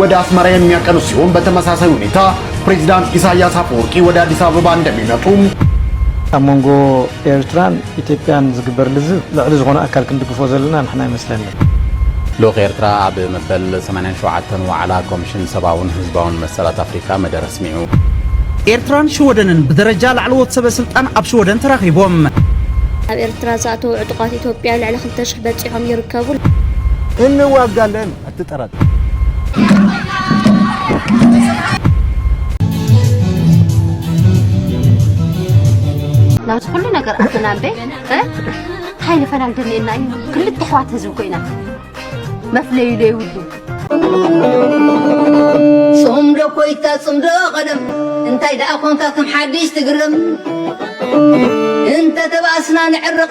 ወደ አስመራ የሚያቀኑ ሲሆን በተመሳሳይ ሁኔታ ፕሬዚዳንት ኢሳያስ አፈወርቂ ወደ አዲስ አበባ እንደሚመጡ ኣብ መንጎ ኤርትራን ኢትዮጵያን ዝግበር ልዝብ ልዕሊ ዝኾነ ኣካል ክንድግፎ ዘለና ንሕና ይመስለኒ። ልኡኽ ኤርትራ ኣብ መበል ሰማንያን ሸውዓተን ዋዕላ ኮምሽን ሰብኣውን ህዝባውን መሰላት ኣፍሪካ መደረ ኣስሚዑ። ኤርትራን ሽወደንን ብደረጃ ላዕለዎት ሰበ ስልጣን ኣብ ሽወደን ተራኺቦም። ናብ ኤርትራ ዝኣተዉ ዕጡቓት ኢትዮጵያ ልዕሊ ክልተ ሽሕ በጺሖም ይርከቡ። እንዋጋለን። ትጠረጠር። ናብዚ ኩሉ ነገር ኣትና እምበ እንታይ ንፈላል ደልየና እዩ ክልተ ኣሕዋት ህዝቢ ኮይና መፍለዩ ዘይብሉ ጽምዶ ኮይታ ጽምዶ ቀደም እንታይ ደኣ ኮንካ ከም ሓድሽ ትግርም እንተ ተባእስና ንዕርቕ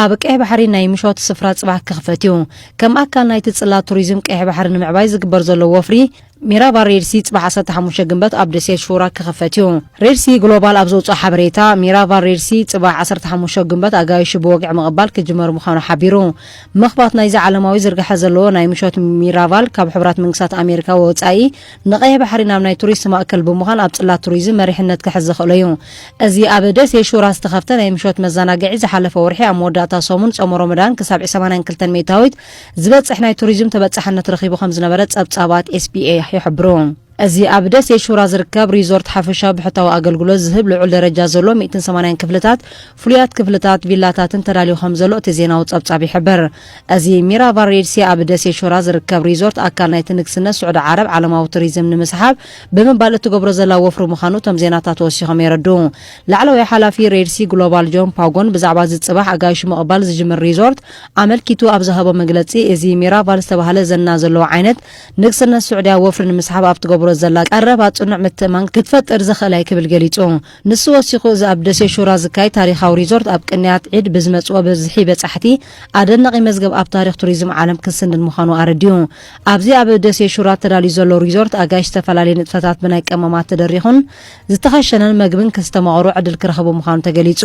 ኣብ ቀይሕ ባሕሪ ናይ ምሾት ስፍራ ጽባሕ ክኽፈት እዩ። ከም ኣካል ናይቲ ጽላት ቱሪዝም ቀይሕ ባሕሪ ንምዕባይ ዝግበር ዘሎ ወፍሪ፣ ሚራባ ሬድ ሲ ጽባሕ ዓሰርተ ሓሙሽተ ግንበት ኣብ ደሴት ሹራ ክኽፈት እዩ። ሬድ ሲ ግሎባል ኣብ ዘውጽኦ ሓበሬታ፣ ሚራቫ ሬድ ሲ ጽባሕ ዓሰርተ ሓሙሽተ ግንበት ኣጋይሹ ብወግዒ ምቕባል ክጅመር ምዃኑ ሓቢሩ። ምኽፋት ናይዚ ዓለማዊ ዝርግሐ ዘለዎ ናይ ምሾት ሚራቫል ካብ ሕቡራት መንግስታት ኣሜሪካ ወጻኢ፣ ንቀይሕ ባሕሪ ናብ ናይ ቱሪስት ማእከል ብምዃን ኣብ ጽላት ቱሪዝም መሪሕነት ክሕዝ ዘኽእሎ እዩ። እዚ ኣብ ደሴ ሹራ ዝተኸፍተ ናይ ምሾት መዛናግዒ ዝሓለፈ ወርሒ ኣብ መወዳእታ ሰሙን ጾመ ሮመዳን ክሳብ ዕ ሰማንያን ክልተን ሚእታዊት ዝበጽሕ ናይ ቱሪዝም ተበጻሕነት ረኺቡ ከምዝነበረ ጸብጻባት ኤስቢኤ ይሕብሩ። እዚ ኣብ ደሴ ሹራ ዝርከብ ሪዞርት ሓፈሻዊ ብሕታዊ ኣገልግሎት ዝህብ ልዑል ደረጃ ዘለዎ ሚእትን ሰማንያን ክፍልታት፣ ፍሉያት ክፍልታት፣ ቪላታትን ተዳልዩ ከምዘሎ እቲ ዜናዊ ጸብጻብ ይሕብር። እዚ ሚራቫል ሬድ ሲ ኣብ ደሴት ሾራ ዝርከብ ሪዞርት ኣካል ናይቲ ንግስነት ስዑዲ ዓረብ ዓለማዊ ቱሪዝም ንምስሓብ ብምባል እትገብሮ ዘላ ወፍሪ ምዃኑ እቶም ዜናታት ወሲኾም የረድኡ። ላዕለዋይ ሓላፊ ሬድ ሲ ግሎባል ጆን ፓጎን ብዛዕባ እዚ ጽባሕ ኣጋይሹ ምቕባል ዝጅምር ሪዞርት ኣመልኪቱ ኣብ ዝሃቦ መግለጺ እዚ ሚራቫል ዝተባህለ ዝና ዘለዎ ዓይነት ንግስነት ስዑድያ ወፍሪ ንምስሓብ ኣብ ትገብሮ ዘላ ቀረባ ጽኑዕ ምትእምማን ክትፈጥር ዘኽእላ እዩ ክብል ገሊጹ። ንሱ ወሲኹ እዚ ኣብ ደሴ ሹራ ዝካየድ ታሪኻዊ ሪዞርት ኣብ ቅንያት ዒድ ብዝመጽኦ ብዝሒ በጻሕቲ ኣደናቒ መዝገብ ኣብ ታሪኽ ቱሪዝም ዓለም ክስንድ ምዃኑ ኣረዲኡ። ኣብዚ ኣብ ደሴ ሹራ ተዳልዩ ዘሎ ሪዞርት ኣጋይሽ ዝተፈላለየ ንጥፈታት ብናይ ቀመማት ተደሪኹን ዝተኸሸነን መግብን ክስተማቕሩ ዕድል ክረኽቡ ምዃኑ ተገሊጹ።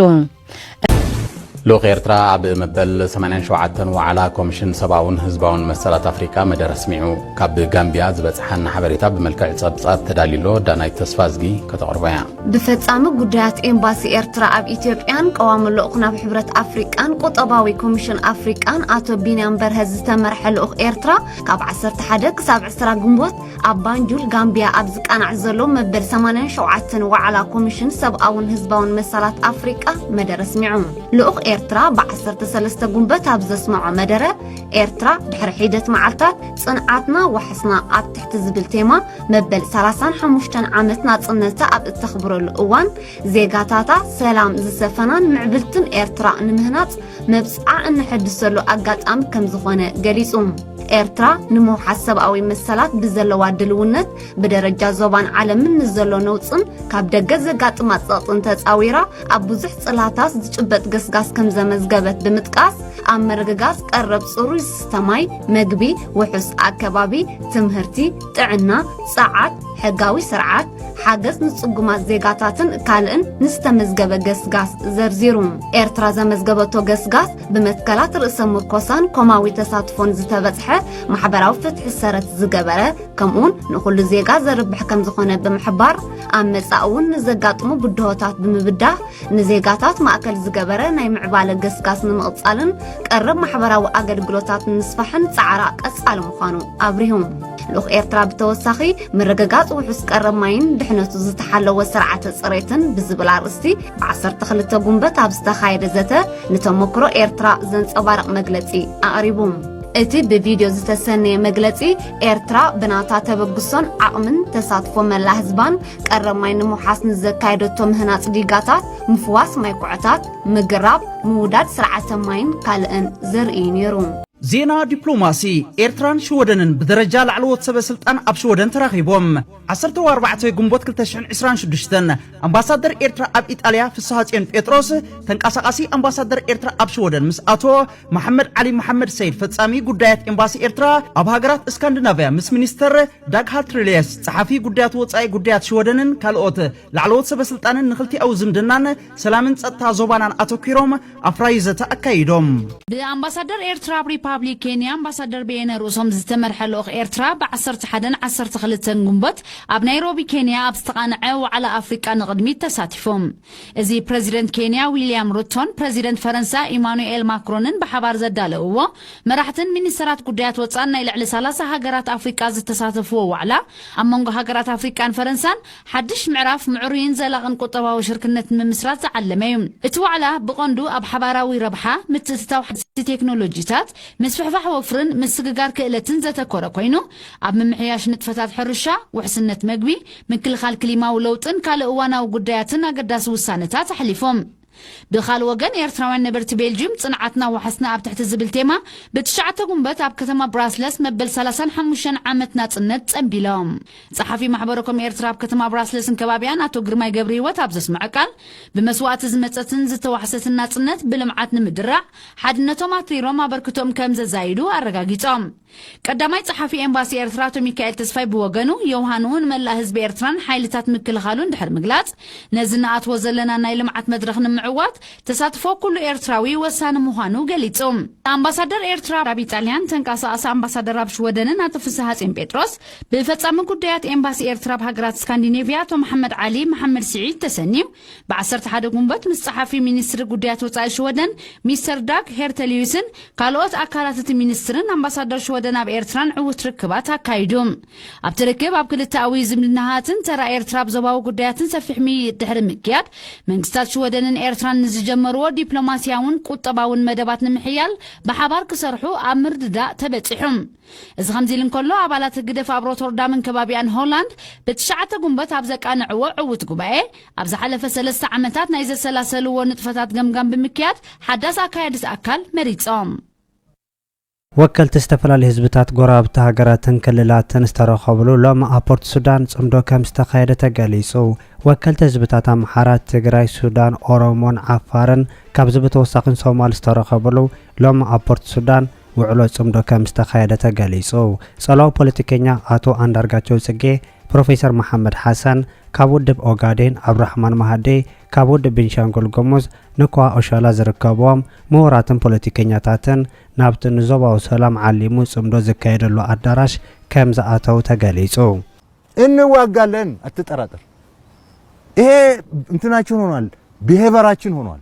ልኡኽ ኤርትራ ኣብ መበል 87 ዋዕላ ኮሚሽን ሰብኣውን ህዝባውን መሰላት ኣፍሪቃ መደረ ኣስሚዑ። ካብ ጋምቢያ ዝበጽሓና ሓበሬታ ብመልክዕ ጸብጻብ ተዳልዩሎ ዳናይት ተስፋዝጊ ከተቕርቦ እያ። ብፈጻሚ ጉዳያት ኤምባሲ ኤርትራ ኣብ ኢትዮጵያን ቀዋሚ ልኡኽ ናብ ሕብረት ኣፍሪቃን ቁጠባዊ ኮሚሽን ኣፍሪቃን ኣቶ ቢንያም በርሀ ዝተመርሐ ልኡኽ ኤርትራ ካብ 11 ክሳብ 20 ግንቦት ኣብ ባንጁል ጋምቢያ ኣብ ዝቃናዕ ዘሎ መበል 87 ዋዕላ ኮሚሽን ሰብኣውን ህዝባውን መሰላት ኣፍሪቃ መደረ ኣስሚዑ ልኡኽ ኤርትራ ብ13 ጉንበት ኣብ ዘስምዖ መደረ ኤርትራ ድሕሪ ሒደት መዓልታት ጽንዓትና ዋሕስና ኣብ ትሕቲ ዝብል ቴማ መበል 35 ዓመት ናጽነታ ኣብ እተኽብረሉ እዋን ዜጋታታ ሰላም ዝሰፈናን ምዕብልትን ኤርትራ ንምህናጽ መብጽዓ እነሐድሰሉ ኣጋጣሚ ከም ዝኾነ ገሊጹ። ኤርትራ ንምውሓስ ሰብኣዊ መሰላት ብዘለዋ ድልውነት ብደረጃ ዞባን ዓለምን ንዘሎ ነውጽን ካብ ደገ ዘጋጥማ ጸቕጥን ተጻዊራ ኣብ ብዙሕ ጽላታት ዝጭበጥ ገስጋስ ከም ዘመዝገበት ብምጥቃስ ኣብ ምርግጋጽ ቀረብ ጽሩይ ዝስተ ማይ፣ መግቢ፣ ውሑስ ኣከባቢ፣ ትምህርቲ፣ ጥዕና፣ ጸዓት፣ ሕጋዊ ስርዓት ሓገዝ ንጽጉማት ዜጋታትን ካልእን ንዝተመዝገበ ገስጋስ ዘርዚሩ ኤርትራ ዘመዝገበቶ ገስጋስ ብመትከላት ርእሰ ምርኮሳን ኮማዊ ተሳትፎን ዝተበጽሐ ማሕበራዊ ፍትሒ ሰረት ዝገበረ ከምኡውን ንኹሉ ዜጋ ዘርብሕ ከም ዝኾነ ብምሕባር ኣብ መጻእ እውን ንዘጋጥሙ ብድሆታት ብምብዳህ ንዜጋታት ማእከል ዝገበረ ናይ ምዕባለ ገስጋስ ንምቕጻልን ቀረብ ማሕበራዊ ኣገልግሎታት ንምስፋሕን ጻዕራ ቀጻሊ ምዃኑ ኣብሪሁ ልኡኽ ኤርትራ ብተወሳኺ ምርግጋፅ ውሑስ ቀረብ ማይን ድሕነቱ ዝተሓለወ ስርዓተ ፅሬትን ብዝብል ኣርእስቲ ብ12 ጉንበት ኣብ ዝተኻየደ ዘተ ንተሞክሮ ኤርትራ ዘንፀባርቕ መግለፂ ኣቕሪቡ እቲ ብቪድዮ ዝተሰነየ መግለፂ ኤርትራ ብናታ ተበግሶን ዓቕምን ተሳትፎ መላ ህዝባን ቀረብ ማይ ንምውሓስ ንዘካየደቶ ምህናፅ ዲጋታት ምፍዋስ ማይ ኩዕታት ምግራብ ምውዳድ ስርዓተ ማይን ካልእን ዘርእዩ ነይሩ ዜና ዲፕሎማሲ ኤርትራን ሽወደንን ብደረጃ ላዕለዎት ሰበ ስልጣን ኣብ ሽወደን ተራኺቦም። ዓሰርተ ኣርባዕተ ግንቦት ክልተ ሽሕን ዕስራን ሽዱሽተን ኣምባሳደር ኤርትራ ኣብ ኢጣልያ ፍስሃጽዮን ጴጥሮስ ተንቀሳቓሲ ኣምባሳደር ኤርትራ ኣብ ሽወደን ምስ ኣቶ መሓመድ ዓሊ መሓመድ ሰይድ ፈጻሚ ጉዳያት ኤምባሲ ኤርትራ ኣብ ሃገራት እስካንዲናቭያ ምስ ሚኒስተር ዳግ ሃልትሪልየስ ጸሓፊ ጉዳያት ወጻኢ ጉዳያት ሽወደንን ካልኦት ላዕለዎት ሰበ ስልጣንን ንክልቲኣዊ ዝምድናን ሰላምን ጸጥታ ዞባናን ኣተኲሮም ኣፍራዪ ዘተ ኣካይዶም። ብኣምባሳደር ኤርትራ ኣብ ሪፓብሊክ ኬንያ ኣምባሳደር በየነ ርእሶም ዝተመርሐ ልኡኽ ኤርትራ ብ ዓሰርተ ሓደን ዓሰርተ ክልተን ግንቦት ኣብ ናይሮቢ ኬንያ ኣብ ዝተቓንዐ ዋዕላ ኣፍሪቃ ንቕድሚት ተሳቲፉ። እዚ ፕረዚደንት ኬንያ ዊልያም ሩቶን ፕረዚደንት ፈረንሳ ኢማኑኤል ማክሮንን ብሓባር ዘዳለውዎ፣ መራሕትን ሚኒስተራት ጉዳያት ወጻእን ናይ ልዕሊ ሰላሳ ሃገራት ኣፍሪቃ ዝተሳተፍዎ ዋዕላ፣ ኣብ መንጎ ሃገራት ኣፍሪቃን ፈረንሳን ሓድሽ ምዕራፍ ምዕሩይን ዘላቕን ቁጠባዊ ሽርክነት ንምምስራት ዝዓለመ እዩ። እቲ ዋዕላ ብቐንዱ ኣብ ሓባራዊ ረብሓ፣ ምትእትታው ሓደስቲ ቴክኖሎጂታት፣ ምስፍሕፋሕ ወፍርን ምስግጋር ክእለትን ዘተኮረ ኮይኑ፣ ኣብ ምምሕያሽ ንጥፈታት ሕርሻ፣ ውሕስነት መግቢ፣ ምክልኻል ክሊማዊ ለውጥን ካልእ እዋናዊ ጉዳያትን ኣገዳሲ ውሳነታት ኣሕሊፎም። ብኻልእ ወገን ኤርትራውያን ነበርቲ ቤልጂዩም ጽንዓትና ዋሕስና ኣብ ትሕቲ ዝብል ቴማ ብትሽዓተ ጉንበት ኣብ ከተማ ብራስለስ መበል ሰላሳን ሓሙሽተን ዓመት ናጽነት ጸንቢሎም። ጸሓፊ ማሕበረኮም ኤርትራ ኣብ ከተማ ብራስለስን ከባቢኣን ኣቶ ግርማይ ገብሪሂወት ኣብ ዘስመዐ ቃል ብመስዋእቲ ዝመጸትን ዝተዋሕሰትን ናጽነት ብልምዓት ንምድራዕ ሓድነቶም ኣትሪሮም ኣበርክቶኦም ከምዘዛይዱ ኣረጋጊጾም። ቀዳማይ ጸሓፊ ኤምባሲ ኤርትራ ኣቶ ሚካኤል ተስፋይ ብወገኑ፣ ዮውሃንሁ ንመላእ ህዝቢ ኤርትራን ሓይልታት ምክልኻሉን ድሕሪ ምግላጽ፣ ነዚ ንኣትዎ ዘለና ናይ ልምዓት መድረኽ ንምዕዋት፣ ተሳትፎ ኩሉ ኤርትራዊ ወሳኒ ምዃኑ ገሊጹ። ኣምባሳደር ኤርትራ ኣብ ኢጣልያን ተንቀሳቓሲ ኣምባሳደር ኣብ ሽወደንን ኣቶ ፍስሃጼን ጴጥሮስ፣ ብፈጻሚ ጉዳያት ኤምባሲ ኤርትራ ኣብ ሃገራት ስካንዲኔቭያ ኣቶ መሓመድ ዓሊ መሓመድ ስዒድ ተሰንዩ፣ ብዓሰርተ ሓደ ጉንበት ምስ ጸሓፊ ሚኒስትሪ ጉዳያት ወጻኢ ሽወደን ሚስተር ዳግ ሄርተልዩስን ካልኦት ኣካላት እቲ ሚኒስትርን ኣምባሳደር ሽወደን ኣብ ኤርትራን ዕዉት ርክባት ኣካይዱ። ኣብቲ ርክብ ኣብ ክልተኣዊ ዝምድናሃትን ተራ ኤርትራ ኣብ ዞባዊ ጉዳያትን ሰፊሕ ምይይጥ ድሕሪ ምክያድ መንግስታት ሽወደንን ኤርትራን ንዝጀመርዎ ዲፕሎማስያውን ቁጠባውን መደባት ንምሕያል ብሓባር ክሰርሑ ኣብ ምርድዳእ ተበጺሑም። እዚ ከምዚ ኢሉ እንከሎ፣ ኣባላት ህግደፍ ኣብ ሮቶርዳምን ከባቢኣን ሆላንድ ብትሽዓተ ጉንበት ኣብ ዘቃንዕዎ ዕዉት ጉባኤ፣ ኣብ ዝሓለፈ ሰለስተ ዓመታት ናይ ዘሰላሰልዎ ንጥፈታት ገምጋም ብምክያድ ሓዳስ ኣካያዲት ኣካል መሪጾም። ወከልቲ ዝተፈላለዩ ህዝብታት ጎረባብቲ ሃገራትን ክልላትን ዝተረኸብሉ ሎሚ ኣብ ፖርት ሱዳን ጽምዶ ከም ዝተኻየደ ተገሊጹ። ወከልቲ ህዝብታት ኣምሓራ፣ ትግራይ፣ ሱዳን፣ ኦሮሞን ዓፋርን ካብዚ ብተወሳኺን ሶማል ዝተረኸብሉ ሎሚ ኣብ ፖርት ሱዳን ውዕሎ ፅምዶ ከም ዝተኻየደ ተገሊፁ። ፀላዊ ፖለቲከኛ ኣቶ ኣንዳርጋቸው ፅጌ፣ ፕሮፌሰር መሓመድ ሓሰን ካብ ውድብ ኦጋዴን፣ ኣብዱራሕማን ማሃዲ ካብ ውድብ ቤንሻንጉል ጉሙዝ፣ ንኮሃ ኦሻላ ዝርከቡዎም ምሁራትን ፖለቲከኛታትን ናብቲ ንዞባዊ ሰላም ዓሊሙ ፅምዶ ዝካየደሉ ኣዳራሽ ከም ዝኣተው ተገሊፁ። እንዋጋለን ኣትጠራጠር ኢሄ እንትናችን ሆኗል ብሄበራችን ሆኗል።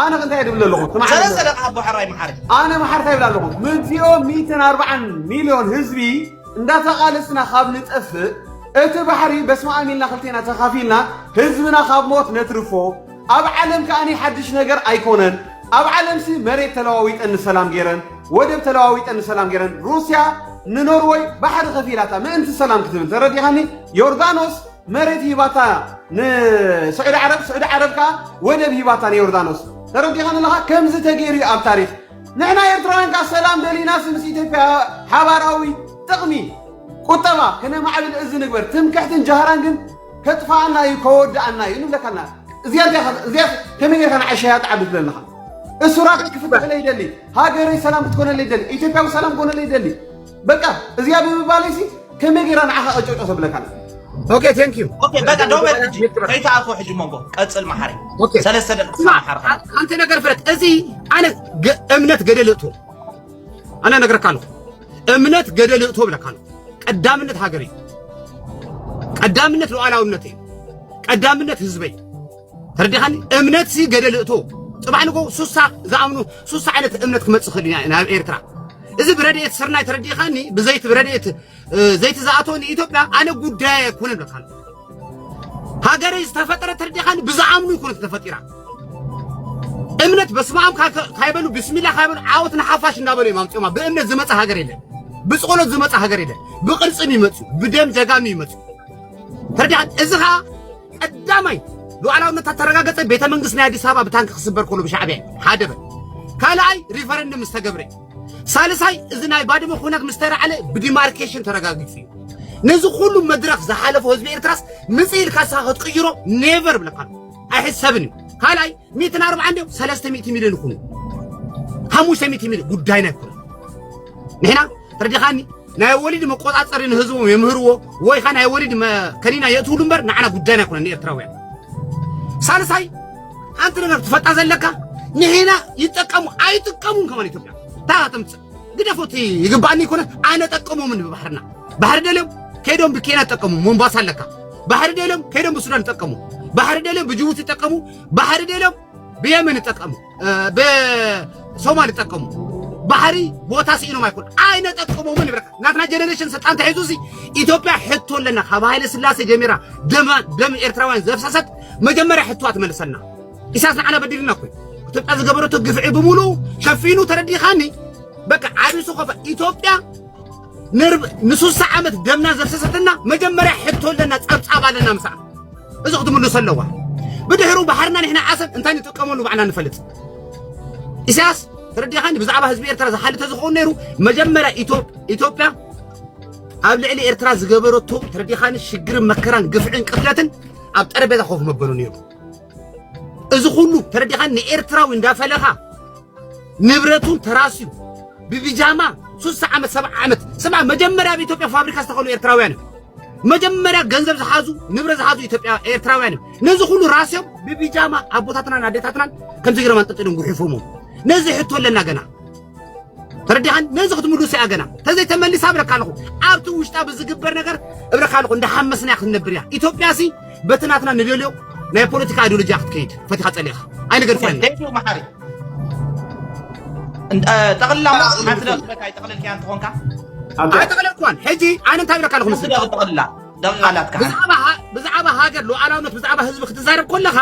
ኣነ እንታይ እየ ድብል ኣለኹ? ሰለስተ ደቂ ሃቦ ሕራይ መሓሪ። ኣነ መሓሪ እንታይ ይብል ኣለኹ? ምእቲኦ ሚእትን ኣርባዓን ሚልዮን ህዝቢ እንዳተቓለስና ካብ ንጠፍእ እቲ ባሕሪ በስመ ኣም ኢልና ክልቴና ተኻፊልና ህዝብና ካብ ሞት ነትርፎ። ኣብ ዓለም ከኣኒ ሓድሽ ነገር ኣይኮነን። ኣብ ዓለምሲ መሬት ተለዋዊጠን ንሰላም ገይረን፣ ወደብ ተለዋዊጠን ንሰላም ገይረን። ሩስያ ንኖርወይ ባሕሪ ከፊላታ ምእንቲ ሰላም ክትብል ተረዲኻኒ? ዮርዳኖስ መሬት ሂባታ ንስዑዲ ዓረብ፣ ስዑዲ ዓረብ ከኣ ወደብ ሂባታ ንዮርዳኖስ። ተረዲኻኒ ኣለኻ? ከምዚ ተገይሩ እዩ ኣብ ታሪኽ። ንሕና ኤርትራውያን ከኣ ሰላም ደሊናስ ምስ ኢትዮጵያ ሓባራዊ ጥቕሚ ቁጠባ ክነማዕብል እዚ ንግበር። ትምክሕትን ጃህራን ግን ከጥፍኣና እዩ ከወድኣና እዩ ንብለካ ኣለና። እዚኣ እንታይ- እዚኣ ከመይ ጌርካ ንዓይ ሸያጥ ዓዱ ትብለለኻ? እሱራት ክፍትሐለይ ይደሊ፣ ሃገረይ ሰላም ክትኮነለይ ይደሊ፣ ኢትዮጵያዊ ሰላም ክኮነለይ ይደሊ። በቃ እዚኣ ብምባለይሲ ከመይ ጌራ ንዓኻ ቀጨጮ ተብለካ ኣላ ኦኬ ቴንክ ዩ ኦኬ በቃ ደው በል ሕጂ ከይተኣትዎ ሕጂ መንጎ ቀጽል መሓሪ ኦኬ ሰለስተ ደቂቃ ስማ መሓሪ ከ አ- አንተ ነገር ፍረት እዚ ኣነ ገ- እምነት ገደል እቶ ኣነ ነገርካ ኣለኹ እምነት ገደል እቶ ብለካ ኣለኹ ቀዳምነት ሃገር እዩ ቀዳምነት ሉዓላውነት እዩ ቀዳምነት ህዝበይ ተረዲኻኒ እምነትሲ ገደል እቶ ጽባሕ ንጎ ሱሳ ዝኣምኑ ሱሳ ዓይነት እምነት ክመጽእ ክእል ኢና ናብ ኤርትራ እዚ ብረድኤት ስርናይ ተረዲኻኒ ብዘይቲ ብረድኤት ዘይቲ ዝኣቶ ንኢትዮጵያ ኣነ ጉዳይ ኣይኮነ ብለካ ሃገረይ ዝተፈጠረ ተረዲኻኒ ብዝኣምኑ ይኮነ ተፈጢራ እምነት በስመ አብ ካይበሉ ብስሚላ ካይበሉ ዓወት ንሓፋሽ እንዳበሉ እዮም ኣምፅኦማ ብእምነት ዝመፀ ሃገር የለን ብፅቆሎት ዝመፀ ሃገር የለን ብቅርፅም ይመፅኡ ብደም ጀጋኑ ይመፅኡ ተረዲኻ እዚ ከዓ ቀዳማይ ሉዓላውነታ ተረጋገጸ ቤተ መንግስት ናይ ኣዲስ ኣበባ ብታንኪ ክስበር ከሎ ብሻዕቢያ እዩ ሓደ በል ካልኣይ ሪፈረንደም ምስ ተገብረ እዩ ሳልሳይ እዚ ናይ ባድመ ኩነት ምስ ተራዕለ ብዲማርኬሽን ተረጋጊጹ እዩ ነዚ ኩሉ መድረኽ ዝሓለፎ ህዝቢ ኤርትራስ ምጽ ኢልካ ንስኻ ክትቅይሮ ኔቨር ብለካ ኣለኹ ኣይሕሰብን እዩ ካልኣይ ሚእትን ኣርብዓን ድዮም ሰለስተ ሚእቲ ሚልዮን ይኹኑ ሓሙሽተ ሚእቲ ሚልዮን ጉዳይና ኣይኮነን ንሕና ተረዲኻኒ ናይ ወሊድ መቆጻጸሪ ንህዝቦም የምህርዎ ወይ ኸ ናይ ወሊድ ከኒና የእትውሉ እምበር ንዓና ጉዳይና ኣይኮነን ንኤርትራውያን ሳልሳይ ሓንቲ ነገር ትፈልጣ ዘለካ ንሕና ይጠቀሙ ኣይጥቀሙን ከማን ኢትዮጵያ እታ ተምፅእ ግደፎት ይግባእኒ ይኮነ ኣነ ጠቀሞምን ብባሕርና ባሕሪ ደልዮም ከይዶም ብኬንያ ጠቀሙ ሞምባሳ ኣለካ ባሕሪ ደልዮም ከይዶም ብሱዳን ጠቀሙ ባሕሪ ደልዮም ብጅቡቲ ጠቀሙ ባሕሪ ደልዮም ብየመን ይጠቀሙ ብሶማል ይጠቀሙ ባሕሪ ቦታ ስኢኖም ኣይኮን ኣይነጠቀሞምን ይብረካ ናትና ጀኔሬሽን ስልጣን ተሒዙ ሲ ኢትዮጵያ ሕቶ ኣለና ካብ ሃይለ ስላሴ ጀሚራ ደም ኤርትራውያን ዘፍሰሰት መጀመርያ ሕቶዋ ትመልሰና ኢሳያስ ንዓና በዲልና እኮ ኢትዮጵያ ዝገበረቶ ግፍዒ ብምሉ ሸፊኑ ተረዲኻኒ በቃ ዓብሱ ኮፈ ኢትዮጵያ ንሱሳ ዓመት ደምና ዘፍሰሰትና መጀመርያ ሕቶ ኣለና ጸብጻብ ኣለና ምሳኣ እዚ ክትምልሶ ኣለዋ ብድሕሩ ባሕርና ንሕና ዓሰብ እንታይ ንጥቀመሉ ባዕልና ንፈልጥ ኢሳያስ ተረዲኻኒ ብዛዕባ ህዝቢ ኤርትራ ዝሓሊ ተዝኸውን ነይሩ መጀመርያ ኢትዮጵያ ኣብ ልዕሊ ኤርትራ ዝገበረቶ ተረዲኻኒ ሽግርን መከራን ግፍዕን ቅትለትን ኣብ ጠረጴዛ ኮፍ መበሉ ነይሩ እዚ ኩሉ ተረዲኻኒ ንኤርትራዊ እንዳፈለኻ ንብረቱን ተራስዩ ብቢጃማ ሱሳ ዓመት ሰብዓ ዓመት ስማ መጀመርያ ኣብ ኢትዮጵያ ፋብሪካ ዝተኸሉ ኤርትራውያን እዮም መጀመርያ ገንዘብ ዝሓዙ ንብረ ዝሓዙ ኢትዮጵያ ኤርትራውያን እዮም ነዚ ኩሉ ራስዮም ብቢጃማ ኣቦታትናን ኣዴታትናን ከምዚ ገይሮም ኣንጠልጢሎም ጉሒፎሞ ነዚ ሕቶ ኣለና ገና ተረዲኻን ነዚ ክትምልሱ እያ ገና ተዘይተመሊሳ እብለካ ኣለኹ ኣብቲ ውሽጣ ብዝግበር ነገር እብለካ ኣለኹ እንዳሓመስና ክንነብር እያ ኢትዮጵያ ሲ በቲ ናትና ንደልዮ ናይ ፖለቲካ ኣይዲዮሎጂያ ክትከይድ ፈቲኻ ጸሊእኻ ኣይንገድፋን ቴንኪዩ መሓሪ ጠቕልላ ሓንቲ ደቕበካ ኣይጠቕልልካያ እንትኾንካ ኣይጠቕለልኳን ሕጂ ኣነ እንታይ ብለካ ኣለኹ ምስ ጠቕልላ ደቓላትካ ብዛዕባ ሃገር ሉዓላውነት ብዛዕባ ህዝቢ ክትዛረብ ኮለኻ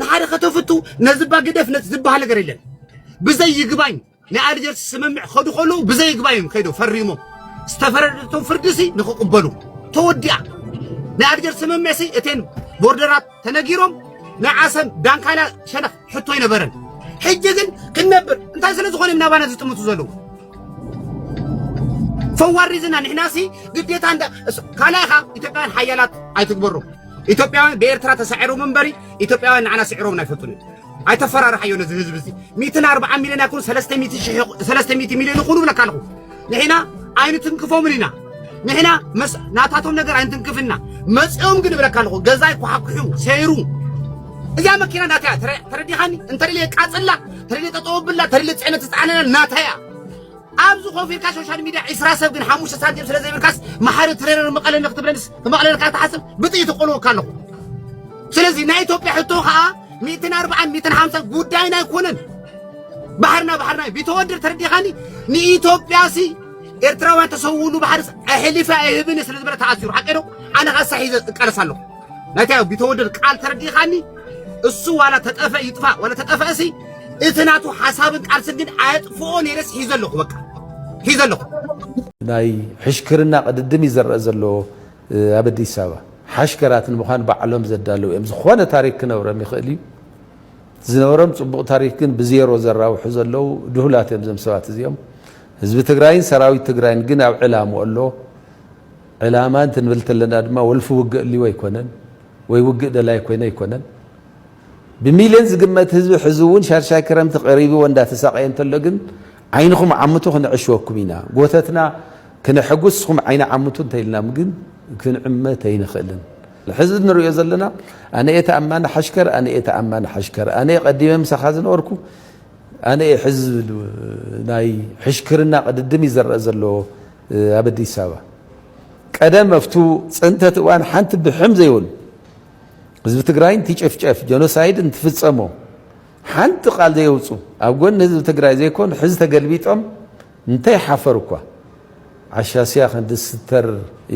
ንሓደ ከተፍቱ ነዚ ባግደፍ ነዚ ዝበሃል ነገር የለን ብዘይ ይግባኝ ናይ ኣልጀርስ ስምምዕ ክኸዱ ከለዉ ብዘይግባይ እዮም ከይዶም ፈሪሞም ዝተፈረደቶም ፍርዲሲ ንክቕበሉ ተወዲኣ ናይ ኣልጀርስ ስምምዕሲ እቴን ቦርደራት ተነጊሮም ናይ ዓሰብ ዳንካላ ሸነኽ ሕቶ ኣይነበረን ሕጂ ግን ክንነብር እንታይ ስለ ዝኾነ እዮም ናባና ዝጥምቱ ዘለዉ ፈዋር ሪዝና ንሕናሲ ግዴታ እንዳ ካልኣኻ ኢትዮጵያውያን ሓያላት ኣይትግበሮም ኢትዮጵያውያን ብኤርትራ ተሳዒሮም እምበሪ ኢትዮጵያውያን ንዓና ስዒሮምና ኣይፈልጡን እዮም ኣይተፈራርሓዮ ነዚ ህዝቢ እዚ ሚእትን ኣርብዓን ሚልዮን ኣይኮኑ ሰለስተ ሚእቲ ሽሕ ሰለስተ ሚእቲ ሚልዮን ይኹኑ ብለካ ኣለኹ ንሕና ኣይንትንክፎምን ኢና ንሕና መስ ናታቶም ነገር ኣይንትንክፍን ኢና መፂኦም ግን እብለካ ኣለኹ ገዛይ ኳሓኩሑ ሰይሩ እዛ መኪና ናተያ ተረ- ተረዲኻኒ እንተደልየ ቃፅላ ተደልየ ጠጠው ኣብላ ተደልየ ፅዕነት ዝፀዓነና ናተያ ኣብዚ ኮፍ ኢልካ ሶሻል ሚድያ ዒስራ ሰብ ግን ሓሙሽተ ሳንቲም ስለ ዘይብልካስ መሓሪ ትሬነር መቐለ ንክትብለንስ መቐለ ንካ ትሓስብ ብጥይት እቆልወካ ኣለኹ ስለዚ ናይ ኢትዮጵያ ሕቶ ከዓ ሚእትን ኣርባዓን ሚእትን ሓምሳን ጉዳይና ኣይኮነን ባሕርና ባሕርና ቢተወድር ተረዲኻኒ ንኢትዮጵያሲ ኤርትራውያን ተሰውሉ ባሕርስ ኣሕሊፈ ኣይህብን ስለ ዝበለ ተኣሲሩ ሓቂ ዶ ኣነ ከዓ ሳሒዘ እቃለስ ኣለኹ ናይታ ቢተወደድ ቃል ተረዲኻኒ እሱ ዋላ ተጠፈ ይጥፋ ዋላ ተጠፈእሲ እቲ ናቱ ሓሳብን ቃልስን ግን ኣየጥፍኦ ነይረስ ሒዘ ኣለኹ በቃ ሒዘ ኣለኹ ናይ ሕሽክርና ቅድድም እዩ ዘረእ ዘሎ ኣብ ኣዲስ ኣበባ ሓሽከራት ንምዃን ባዕሎም ዘዳለው እዮም ዝኾነ ታሪክ ክነብረም ይኽእል እዩ ዝነበሮም ፅቡቕ ታሪክ ግን ብዜሮ ዘራውሑ ዘለው ድሁላት እዮም ዘም ሰባት እዚኦም ህዝቢ ትግራይን ሰራዊት ትግራይን ግን ኣብ ዕላሙ ኣሎ ዕላማ እንትንብል ተለና ድማ ወልፊ ውግእ እልዩ ኣይኮነን ወይ ውግእ ደላይ ኮይነ ኣይኮነን። ብሚልዮን ዝግመት ህዝቢ ሕዚ እውን ሻድሻይ ክረምቲ ቀሪብዎ እንዳተሳቀየ እንተሎ ግን ዓይንኹም ዓምቱ ክንዕሽወኩም ኢና ጎተትና ክነሐጉስ እስኹም ዓይኒ ዓምቱ እንተኢልናም ግን ክንዕመት ኣይንኽእልን። ሕዚ ንሪኦ ዘለና ኣነ እየ ተኣማኒ ሓሽከር ኣነ እየ ተኣማኒ ሓሽከር ኣነ እየ ቀዲመ ምሳኻ ዝነበርኩ ኣነ እየ ሕዚ ናይ ሕሽክርና ቅድድም ይዘረእ ዘለዎ ኣብ ኣዲስ ኣበባ ቀደም ኣብቱ ፅንተት እዋን ሓንቲ ብሕም ዘይበሉ ህዝቢ ትግራይ እንትጨፍጨፍ ጀኖሳይድ እንትፍፀሞ ሓንቲ ቃል ዘየውፁ ኣብ ጎኒ ህዝቢ ትግራይ ዘይኮኑ ሕዚ ተገልቢጦም እንታይ ሓፈሩ እኳ ዓሻስያ ክንዲ ስተር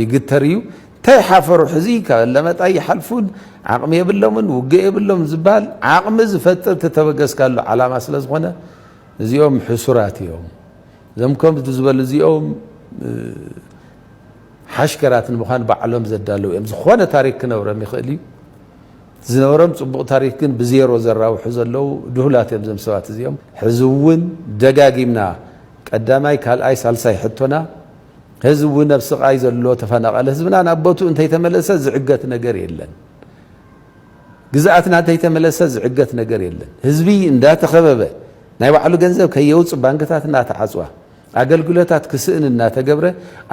ይግተር እዩ እንታይ ሓፈሩ ሕዚ ካብ ለመጣ ይሓልፉን ዓቕሚ የብሎምን ውግእ የብሎም ዝበሃል ዓቕሚ ዝፈጥር ተተበገስካሉ ዓላማ ስለ ዝኾነ እዚኦም ሕሱራት እዮም እዞም ከምዚ ዝበሉ እዚኦም ሓሽከራት ንምዃን ባዕሎም ዘዳለው እዮም። ዝኾነ ታሪክ ክነብረም ይኽእል እዩ። ዝነበሮም ፅቡቕ ታሪክ ግን ብዜሮ ዘራውሑ ዘለው ድሁላት እዮም እዞም ሰባት እዚኦም። ሕዚ እውን ደጋጊምና ቀዳማይ ካልኣይ ሳልሳይ ሕቶና ህዝቢ እውን ኣብ ስቓይ ዘሎ ተፈናቐለ ህዝብና ናብ ቦትኡ እንተይተመለሰ ዝዕገት ነገር የለን። ግዝኣትና ተይተመለሰ ዝዕገት ነገር የለን ህዝቢ እንዳተኸበበ ናይ ባዕሉ ገንዘብ ከየውፅ ባንክታት እናተዓፅዋ ኣገልግሎታት ክስእን እናተገብረ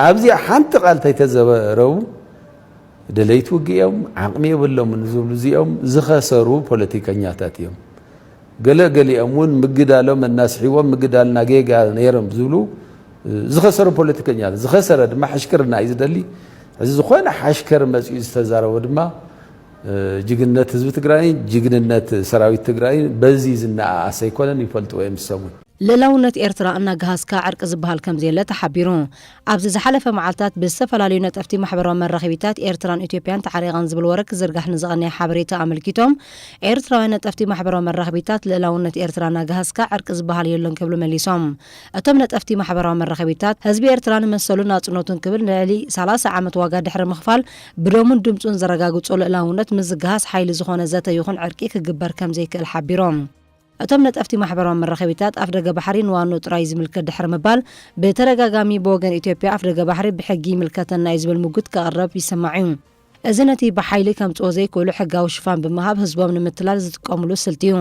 ኣብዚኣ ሓንቲ ቃል ተይተዘረቡ ደለይቲ ውግእ እዮም ዓቕሚ የብሎምን ዝብሉ እዚኦም ዝኸሰሩ ፖለቲከኛታት እዮም ገለ ገሊኦም እውን ምግዳሎም እናስሒዎም ምግዳልና ጌጋ ነይሮም ዝብሉ ዝኸሰሩ ፖለቲከኛ ዝኸሰረ ድማ ሕሽክርና እዩ ዝደሊ እዚ ዝኾነ ሓሽከር መፅኡ ዝተዛረቦ ድማ ጅግንነት ህዝቢ ትግራይን ጅግንነት ሰራዊት ትግራይን በዚ ዝነኣኣስ ኣይኮነን፣ ይፈልጥዎ እዮም ዝሰሙ። ልእላውነት ኤርትራ እናገሃስካ ዕርቂ ዝበሃል ከምዘየለ ተሓቢሩ። ኣብዚ ዝሓለፈ መዓልታት ብዝተፈላለዩ ነጠፍቲ ማሕበራዊ መራኺቢታት ኤርትራን ኢትዮጵያን ተዓሪቐን ዝብል ወረ ክዝርጋሕ ንዝቐነየ ሓበሬታ ኣመልኪቶም ኤርትራውያን ነጠፍቲ ማሕበራዊ መራኺቢታት ልእላውነት ኤርትራ እናገሃስካ ዕርቂ ዝበሃል የሎን ክብሉ መሊሶም። እቶም ነጠፍቲ ማሕበራዊ መራኺቢታት ህዝቢ ኤርትራ ንመሰሉን ናጽነቱን ክብል ንልዕሊ ሰላሳ ዓመት ዋጋ ድሕሪ ምኽፋል ብደሙን ድምጹን ዘረጋግጾ ልእላውነት ምዝግሃስ ሓይሊ ዝኾነ ዘተ ይኹን ዕርቂ ክግበር ከምዘይክእል ሓቢሮም። እቶም ነጠፍቲ ማሕበራዊ መራኸቢታት ኣፍደገ ባሕሪ ንዋንኡ ጥራይ ዝምልከት ድሕሪ ምባል ብተደጋጋሚ ብወገን ኢትዮጵያ ኣፍደገ ባሕሪ ብሕጊ ይምልከተና'ዩ ዝብል ምጉት ከቕረብ ይስማዕ'ዩ። እዚ ነቲ ብሓይሊ ከምጽኦ ዘይክእሉ ሕጋዊ ሽፋን ብምሃብ ህዝቦም ንምትላል ዝጥቀምሉ ስልቲ'ዩ።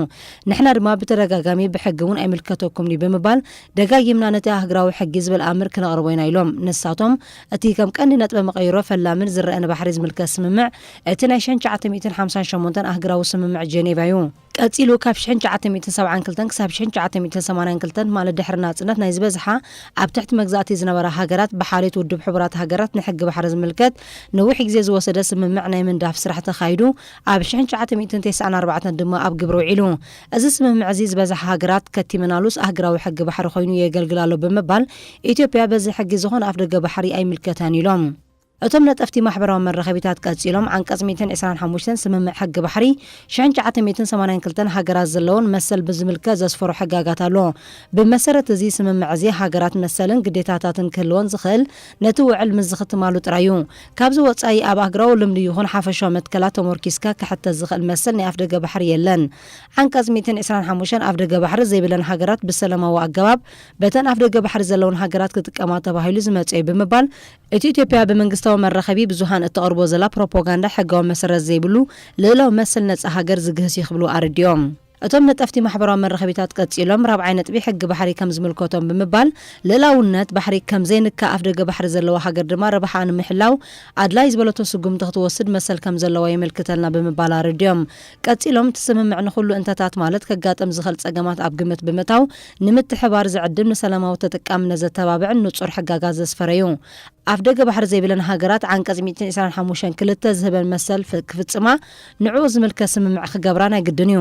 ንሕና ድማ ብተደጋጋሚ ብሕጊ'ውን ኣይምልከተኩምን'ዩ ብምባል ደጋጊምና ነቲ ኣህግራዊ ሕጊ ዝብል ኣምር ክነቕርቦ ኢና ኢሎም። ንሳቶም እቲ ከም ቀንዲ ነጥበ መቐይሮ ፈላምን ዝረኣ ንባሕሪ ዝምልከት ስምምዕ እቲ ናይ ሸን ትሽዓተ ሚእትን ሓምሳን ሸሞንተን ኣህግራዊ ስምምዕ ጀኔቫ እዩ። ቀጺሉ ካብ ሽሕን ትሽዓተ ሚእትን ሰብዓን ክልተን ክሳብ ሽሕን ትሽዓተ ሚእትን ሰማንያን ክልተን ማለት ድሕሪ ናጽነት ናይ ዝበዝሓ ኣብ ትሕቲ መግዛእቲ ዝነበራ ሃገራት ብሓልዮት ውድብ ሕቡራት ሃገራት ንሕጊ ባሕሪ ዝምልከት ነዊሕ ግዜ ዝወሰደ ስምምዕ ናይ ምንዳፍ ስራሕ ተኻይዱ ኣብ ሽሕን ትሽዓተ ሚእትን ቴስዓን ኣርባዕተን ድማ ኣብ ግብሪ ውዒሉ እዚ ስምምዕ'ዚ ዝበዝሓ ሃገራት ከቲመናሉስ ኣህግራዊ ሕጊ ባሕሪ ኮይኑ የገልግል ኣሎ ብምባል፣ ኢትዮጵያ በዚ ሕጊ ዝኾነ ኣፍደገ ባሕሪ ኣይምልከታን ኢሎም። እቶም ነጠፍቲ ማሕበራዊ መራኸቢታት ቀጺሎም፣ ዓንቀጽ ሚእትን ዕስራን ሓሙሽተን ስምምዕ ሕጊ ባሕሪ ሽሕን ትሽዓተ ሚእትን ሰማንያን ክልተን ሃገራት ዘለወን መሰል ብዝምልከት ዘስፈሮ ሕጋጋት ኣሎ። ብመሰረት እዚ ስምምዕ'ዚ ሃገራት መሰልን ግዴታታትን ክህልወን ዝኽእል ነቲ ውዕል ምስ ዝኽትማሉ ጥራይ'ዩ። ካብዚ ወጻኢ ኣብ ኣህግራዊ ልምዲ ይኹን ሓፈሻዊ መትከላት ተሞርኪስካ ክሕተት ዝኸእል መሰል ናይ ኣፍደገ ባሕሪ የለን። ዓንቀጽ ሚእትን ዕስራን ሓሙሽተን ኣፍደገ ባሕሪ ዘይብለን ሃገራት ብሰለማዊ ኣገባብ በተን ኣፍደገ ባሕሪ ዘለወን ሃገራት ክጥቀማ ተባሂሉ ዝመጸ'ዩ ብምባል እቲ ኢትዮጵያ ብመንግስታዊ መራኸቢ ብዙሃን እተቕርቦ ዘላ ፕሮፖጋንዳ ሕጋዊ መሰረት ዘይብሉ ልእላዊ መሰል ነጻ ሃገር ዝግህስ'ዩ ክብሉ ኣረዲኦም። እቶም ነጠፍቲ ማሕበራዊ መራኸቢታት ቀጺሎም ራብዓይ ነጥቢ ሕጊ ባሕሪ ከም ዝምልከቶም ብምባል ልእላውነት ባሕሪ ከም ዘይንካእ ኣፍደገ ባሕሪ ዘለዋ ሃገር ድማ ረብሓኣ ንምሕላው ኣድላይ ዝበለቶ ስጉምቲ ክትወስድ መሰል ከም ዘለዋ የመልክተልና ብምባል ኣረዲኦም ቀጺሎም እቲ ስምምዕ ንኹሉ እንተታት ማለት ከጋጥም ዝኽእል ጸገማት ኣብ ግምት ብምእታው ንምትሕብባር ዝዕድም ንሰላማዊ ተጠቃምነት ዘተባብዕን ንጹር ሕጋጋት ዘስፈረ'ዩ ኣፍደገ ባሕሪ ዘይብለን ሃገራት ዓንቀጽ ሚእትን ዕስራን ሓሙሽተን ክልተ ዝህበን መሰል ክፍጽማ ንዕኡ ዝምልከት ስምምዕ ክገብራ ናይ ግድን እዩ።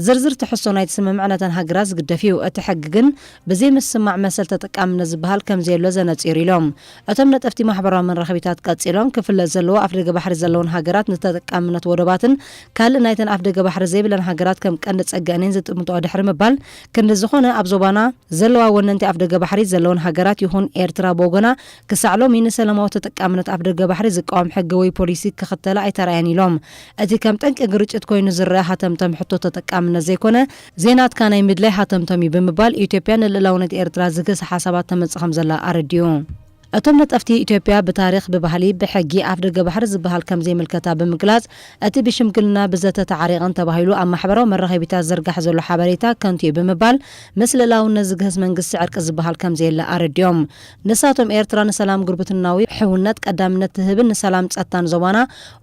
ዝርዝር ትሕዝቶ ናይቲ ስምምዕ ነተን ሃገራት ዝግደፍ እዩ። እቲ ሕጊ ግን ብዘይ ምስማዕ መሰል ተጠቃምነት ዝበሃል ከምዘየሎ ዘነጺር ኢሎም። እቶም ነጠፍቲ ማሕበራዊ መራኸቢታት ቀጺሎም፣ ክፍለጥ ዘለዎ ኣፍደገ ባሕሪ ዘለወን ሃገራት ንተጠቃምነት ወደባትን ካልእ ናይተን ኣፍደገ ባሕሪ ዘይብለን ሃገራት ከም ቀንዲ ጸገኣን እየን ዝጥምትኦ ድሕሪ ምባል ክንዲ ዝኾነ ኣብ ዞባና ዘለዋ ወነንቲ ኣፍደገ ባሕሪ ዘለወን ሃገራት ይኹን ኤርትራ ብወገና ክሳዕ ሎሚ ንሰላማዊ ተጠቃምነት ኣፍደገ ባሕሪ ዝቃወም ሕጊ ወይ ፖሊሲ ክኽተላ ኣይተራእያን ኢሎም። እቲ ከም ጠንቂ ግርጭት ኮይኑ ዝረኣ ሃተምተም ሕቶ ተጠቃምነት ዘይኮነ፣ ዘይናትካ ናይ ምድላይ ሃተምተም እዩ ብምባል ኢትዮጵያ ንልእላውነት ኤርትራ ዝገሰ ሓሳባት ተመጽእ ከምዘላ ኣረዲኡ። እቶም ነጠፍቲ ኢትዮጵያ ብታሪኽ፣ ብባህሊ፣ ብሕጊ ኣፍደገ ባሕሪ ዝበሃል ከምዘይምልከታ ብምግላጽ እቲ ብሽምግልና፣ ብዘተ ተዓሪቐን ተባሂሉ ኣብ ማሕበራዊ መራኸቢታት ዝዝርጋሕ ዘሎ ሓበሬታ ከንቱ እዩ ብምባል ምስ ልእላውነት ዝግህስ መንግስቲ ዕርቂ ዝበሃል ከምዘየለ ኣረዲኦም። ንሳቶም ኤርትራ ንሰላም ጉርብትናዊ ሕውነት ቀዳምነት ትህብን ንሰላም ጸጥታን ዞባና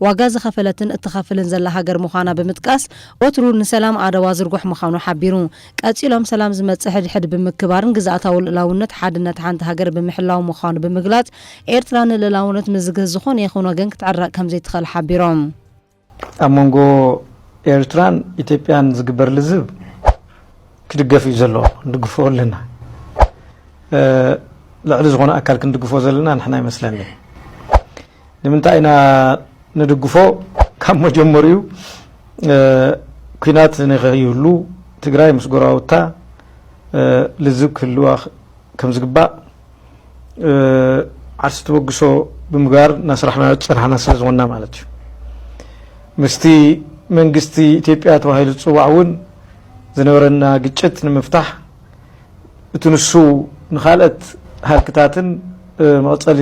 ዋጋ ዝኸፈለትን እትኸፍልን ዘላ ሃገር ምዃና ብምጥቃስ ወትሩ ንሰላም ኣደዋ ዝርጉሕ ምዃኑ ሓቢሩ። ቀጺሎም ሰላም ዝመጽእ ሕድሕድ ብምክባርን ግዝኣታዊ ልእላውነት ሓድነት ሓንቲ ሃገር ብምሕላው ምዃኑ ብምግላጽ ኤርትራ ንልእላውነት ምዝግህ ዝኾነ ይኹን ወገን ክትዕረቕ ከምዘይትኽእል ሓቢሮም። ኣብ መንጎ ኤርትራን ኢትዮጵያን ዝግበር ልዝብ ክድገፍ እዩ ዘለዎ ንድግፎ ኣለና ልዕሊ ዝኾነ ኣካል ክንድግፎ ዘለና ንሕና ይመስለኒ ንምንታይ ኢና ንድግፎ ካብ መጀመሪኡ ኩናት ንኸይህሉ ትግራይ ምስ ጎረባብታ ልዝብ ክህልዋ ከም ዝግባእ ዓርሲ ተበግሶ ብምግባር እናስራሕናዮ ዝፀናሕና ስለዝኾንና ማለት እዩ ምስቲ መንግስቲ ኢትዮጵያ ተባሂሉ ዝፅዋዕ እውን ዝነበረና ግጭት ንምፍታሕ እቲ ንሱ ንካልኦት ሃልክታትን መቐፀሊ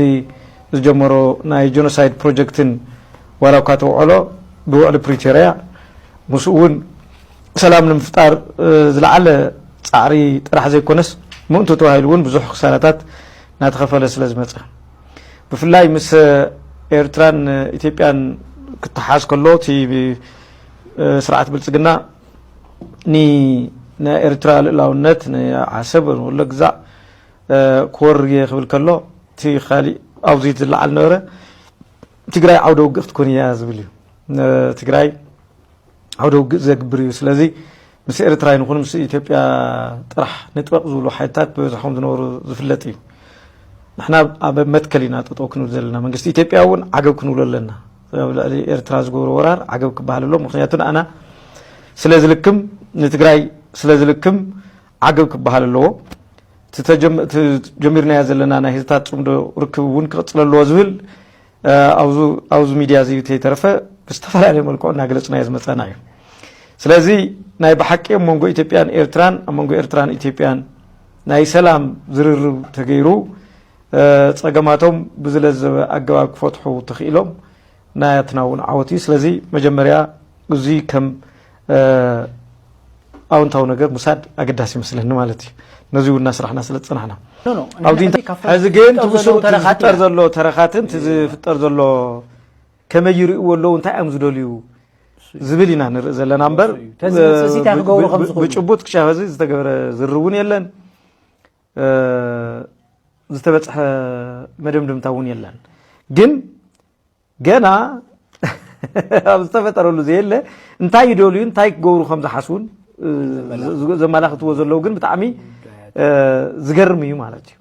ዝጀመሮ ናይ ጀኖሳይድ ፕሮጀክትን ዋላ እኳ ተውዕሎ ብውዕሊ ፕሪቶርያ ምስኡ እውን ሰላም ንምፍጣር ዝለዓለ ፃዕሪ ጥራሕ ዘይኮነስ ምእንቱ ተባሂሉ እውን ብዙሕ ክሳራታት እናተኸፈለ ስለዝመፀ ብፍላይ ምስ ኤርትራን ኢትዮጵያን ክተሓዝ ከሎ እቲ ስርዓት ብልፅግና ንናይ ኤርትራ ልእላውነት ንዓሰብ ወሎ ግዛዕ ክወርር እየ ክብል ከሎ እቲ ካሊእ ኣብዚ ዝለዓል ነበረ ትግራይ ዓውደ ውግእ ክትኮን እያ ዝብል እዩ ትግራይ ዓውደ ውግእ ዘግብር እዩ ስለዚ ምስ ኤርትራ ይንኹን ምስ ኢትዮጵያ ጥራሕ ንጥበቕ ዝብሉ ሓይልታት ብበዝሖም ዝነበሩ ዝፍለጥ እዩ ንሕና ኣብ መትከል ኢና ጠጠው ክንብል ዘለና መንግስቲ ኢትዮጵያ እውን ዓገብ ክንብሎ ኣለና ኣብ ልዕሊ ኤርትራ ዝገብሮ ወራር ዓገብ ክበሃል ኣሎ ምክንያቱ ንኣና ስለ ዝልክም ንትግራይ ስለ ዝልክም ዓገብ ክበሃል ኣለዎ ጀሚርናዮ ዘለና ናይ ህዝታት ፅምዶ ርክብ እውን ክቕፅለ ኣለዎ ዝብል ኣብዚ ሚድያ እዚ ተይተረፈ ብዝተፈላለየ መልክዑ እናገለፅናዮ ዝመፀና እዩ ስለዚ ናይ ብሓቂ ኣብ መንጎ ኢትዮጵያን ኤርትራን ኣብ መንጎ ኤርትራን ኢትዮጵያን ናይ ሰላም ዝርርብ ተገይሩ ፀገማቶም ብዝለዘበ ኣገባብ ክፈትሑ ተኽኢሎም ናትና እውን ዓወት እዩ ስለዚ መጀመርያ እዚ ከም ኣውንታዊ ነገር ምሳድ ኣገዳሲ ይመስለኒ ማለት እዩ ነዚ እውን እናስራሕና ስለ ዝፀናሕና ኣብዚ ግን ትብስሩ ዝፍጠር ዘሎ ተረኻትን ዝፍጠር ዘሎ ከመይ ይርእዎ ኣለዉ እንታይ እዮም ዝደልዩ ዝብል ኢና ንርኢ ዘለና እምበር ብጭቡጥ ክሻብ እዚ ዝተገብረ ዝር እውን የለን ዝተበፅሐ መደምድምታ እውን የለን ግን ገና ኣብ ዝተፈጠረሉ ዘየለ እንታይ ይደልዩ እንታይ ክገብሩ ከም ዝሓስቡን ዘመላኽትዎ ዘለዉ ግን ብጣዕሚ ዝገርም እዩ ማለት እዩ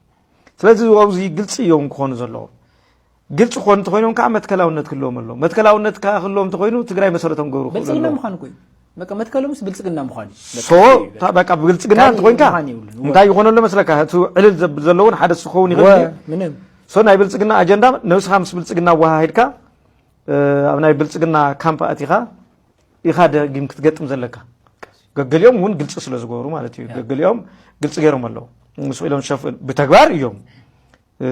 ስለዚ ኣብዚ ግልፂ እዮም ክኾኑ ዘለዎም ግልፂ ክኾኑ እንተኮይኖም ከዓ መትከላውነት ክህልዎም ኣለዎ መትከላውነት ከዓ ክህልዎም እንተኮይኑ ትግራይ መሰረቶም ገብሩ ብልፅግና ምዃኑ ኮይኑ በቃ መትከሉ ምስ ብልፅግና ምዃን እዩ ሶ ታ- በቃ ብልፅግና ካልእ እንተኮይንካ ምዃን የብሉን። እንታይ ይኾነ ኣሎ መስለካ እቲ ዕልል ዘብል ዘለውን ሓደ እሱ ክኸውን ይኽእል ድዩ? ምንም ሶ ናይ ብልፅግና ኣጀንዳ ነብስኻ ምስ ብልፅግና ኣወሃሂድካ እ፣ ኣብ ናይ ብልፅግና ካምፕ ኣቲኻ ኢኻ ደጊም ክትገጥም ዘለካ ገገሊኦም እውን ግልፂ ስለ ዝገበሩ ማለት እዩ ገገሊኦም ግልፂ ገይሮም ኣለዉ ምስ ኢሎም ሸፍ ብተግባር እዮም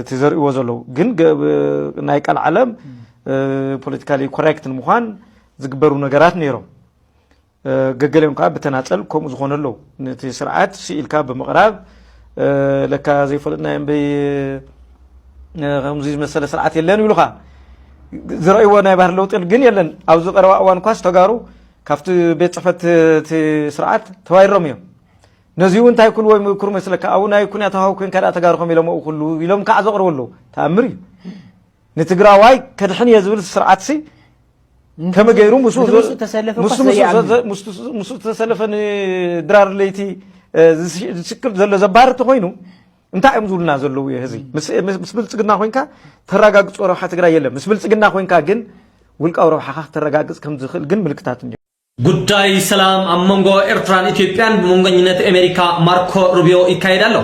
እቲ ዘርእዎ ዘለዉ ግን ናይ ቃል ዓለም ፖለቲካሊ ኮሬክት ንምዃን ዝግበሩ ነገራት ነይሮም ገገሊኦም ከዓ ብተናፀል ከምኡ ዝኾነ ኣለዉ ነቲ ስርዓት ስኢልካ ብምቕራብ ለካ ዘይፈለጥና እምበይ ከምዚ ዝመሰለ ስርዓት የለን ይብሉኻ ዝረእይዎ ናይ ባህር ለውጢ ግን የለን ኣብዚ ቀረባ እዋን እኳስ ተጋሩ ካብቲ ቤት ፅሕፈት እቲ ስርዓት ተባይሮም እዮም ነዚ'ውን እንታይ ኩን ወይ ምክሩ መስለካ ኣብኡ ናይ ኩን ኣታዋዊ ኮንካ ድኣ ተጋሩ ከም ኢሎምኡ ኩሉ ኢሎም ካዓ ዘቕርቡ ኣለዉ ተኣምር እዩ ንትግራዋይ ከድሕን እየ ዝብል ስርዓትሲ ከመ ገይሩ ምስ ዝተሰለፈ ንድራር ለይቲ ዝስክር ዘሎ ዘባህር እንተኮይኑ እንታይ እዮም ዝብሉና ዘለዉ እየ ህዚ ምስ ብልፅግና ኮንካ ተረጋግፆ ረብሓ ትግራይ የለን ምስ ብልፅግና ኮንካ ግን ውልቃዊ ረብሓኻ ክተረጋግፅ ከም ዝኽእል ግን ምልክታት እኒ ጉዳይ ሰላም ኣብ መንጎ ኤርትራን ኢትዮጵያን ብመንጎኝነት ኣሜሪካ ማርኮ ሩቢዮ ይካየድ ኣሎ።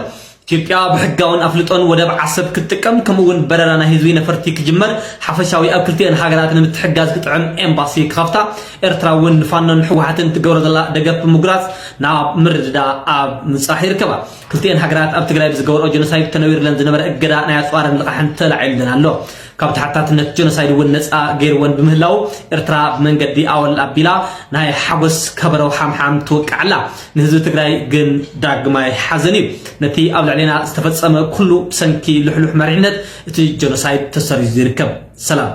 ኢትዮጵያ ብሕጋውን ኣፍልጦን ወደብ ዓሰብ ክትጥቀም ከምኡ'ውን በረራ ናይ ህዝቢ ነፈርቲ ክጅመር ሓፈሻዊ ኣብ ክልቲኤን ሃገራት ንምትሕጋዝ ክጥዕም ኤምባሲ ክኸፍታ ኤርትራ እውን ንፋኖን ሕወሓትን ትገብሮ ዘላ ደገፍ ብምጉራጽ ናብ ምርድዳ ኣብ ምብጻሕ ይርከባ። ክልቲኤን ሃገራት ኣብ ትግራይ ብዝገበርኦ ጀኖሳይድ ተነዊርለን ዝነበረ እገዳ ናይ ኣጽዋርን ልቓሕን ተላዒሉለን ኣሎ። ካብ ተሓታትነት ጀኖሳይድ እውን ነፃ ገይርወን ብምህላው ኤርትራ ብመንገዲ ኣወል ኣቢላ ናይ ሓጎስ ከበረው ሓምሓም ትወቅዕ ኣላ ንህዝቢ ትግራይ ግን ዳግማይ ሓዘን እዩ ነቲ ኣብ ልዕሌና ዝተፈፀመ ኩሉ ብሰንኪ ልሕሉሕ መሪሕነት እቲ ጀኖሳይድ ተሰሪዙ ይርከብ ሰላም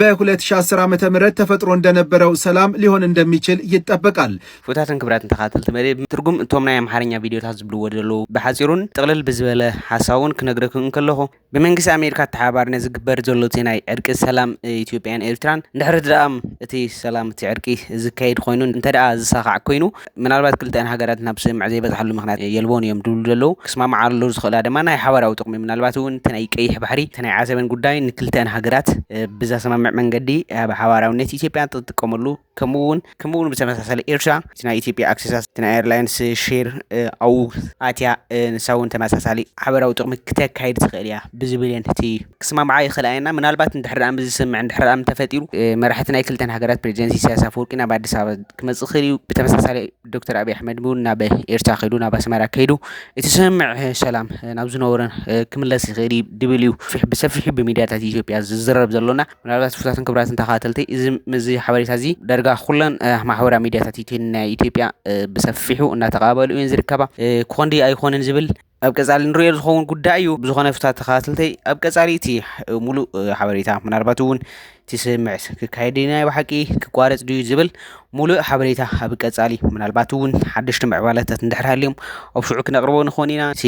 በ2010 ዓ.ም ተፈጥሮ እንደነበረው ሰላም ሊሆን እንደሚችል ይጠበቃል። ክቡታትን ክብራትን ተኻተልቲ መደብ ትርጉም እቶም ናይ ኣምሓርኛ ቪድዮታት ዝብልዎ ዘለዉ ብሓጺሩን ጥቕልል ብዝበለ ሓሳቡን ክነግረኩም እንከለኹ ብመንግስቲ ኣሜሪካ ኣተሓባርነት ዝግበር ዘሎ እቲ ናይ ዕርቂ ሰላም ኢትዮጵያን ኤርትራን ድሕሪ ድኣም እቲ ሰላም እቲ ዕርቂ ዝካየድ ኮይኑ እንተደኣ ዝሳኻዕ ኮይኑ ምናልባት ክልቲኣን ሃገራት ናብ ስምምዕ ዘይበጽሓሉ ምኽንያት የልቦን እዮም ድብሉ ዘለዉ ክስማምዓሉ ዝኽእላ ድማ ናይ ሓባራዊ ጥቕሚ ምናልባት እውን እቲ ናይ ቀይሕ ባሕሪ እቲ ናይ ዓሰብን ጉዳይ ንክልቲኣን ሃገራት ብዘሰማምዕ መንገዲ ኣብ ሓባራዊነት ኢትዮጵያ ትጥቀመሉ ከምኡ እውን ከምኡ እውን ብተመሳሳሊ ኤርትራ እቲ ናይ ኢትዮጵያ ኣክሴሳት እቲ ናይ ኤርላይንስ ሼር ኣብኡ ኣትያ ንሳ እውን ተመሳሳሊ ሓበራዊ ጥቕሚ ክተካይድ ትኽእል እያ ብዝብል እየን እቲ ክስማምዓ ይኽእላ እየን እና ምናልባት እንድሕር ምስ ዝስምዕ እንድሕር ምስ ተፈጢሩ መራሕቲ ናይ ክልተን ሃገራት ፕሬዚደንት ኢሳያስ ኣፈወርቂ ናብ ኣዲስ ኣበባ ክመጽእ ይኽእል እዩ። ብተመሳሳሊ ዶክተር ኣብይ ኣሕመድ እውን ናብ ኤርትራ ከይዱ ናብ ኣስመራ ከይዱ እቲ ስምምዕ ሰላም ናብ ዝነበረ ክምለስ ይኽእል እዩ ድብል እዩ ብሰፊሑ ብሚድያታት ኢትዮጵያ ዝዝረብ ዘሎና ምናልባት ፍታትን ክብራትን ተኸታተልቲ እዚ እዚ ሓበሬታ እዚ ዳርጋ ኩለን ማሕበራዊ ሚድያታት ናይ ኢትዮጵያ ብሰፊሑ እናተቐባበሉ እየን ዝርከባ ክኾን ድዩ ኣይኮንን ዝብል ኣብ ቀፃሊ ንሪኦ ዝኸውን ጉዳይ እዩ ብዝኾነ ፍታ ተኸታተልተይ ኣብ ቀፃሊ እቲ ሙሉእ ሓበሬታ ምናልባት እውን እቲ ስምምዕ ክካየድ ድዩ ናይ ብሓቂ ክቋረፅ ድዩ ዝብል ሙሉእ ሓበሬታ ኣብ ቀፃሊ ምናልባት እውን ሓደሽቲ ምዕባለታት እንድሕር ሃልዮም ኣብ ሽዑ ክነቕርቦ ንኾን ኢና እቲ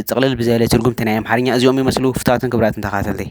ጥቕልል ብዘለ ትርጉምቲ ናይ ኣምሓርኛ እዚኦም ይመስሉ ፍታትን ክብራትን ተኸታተልተይ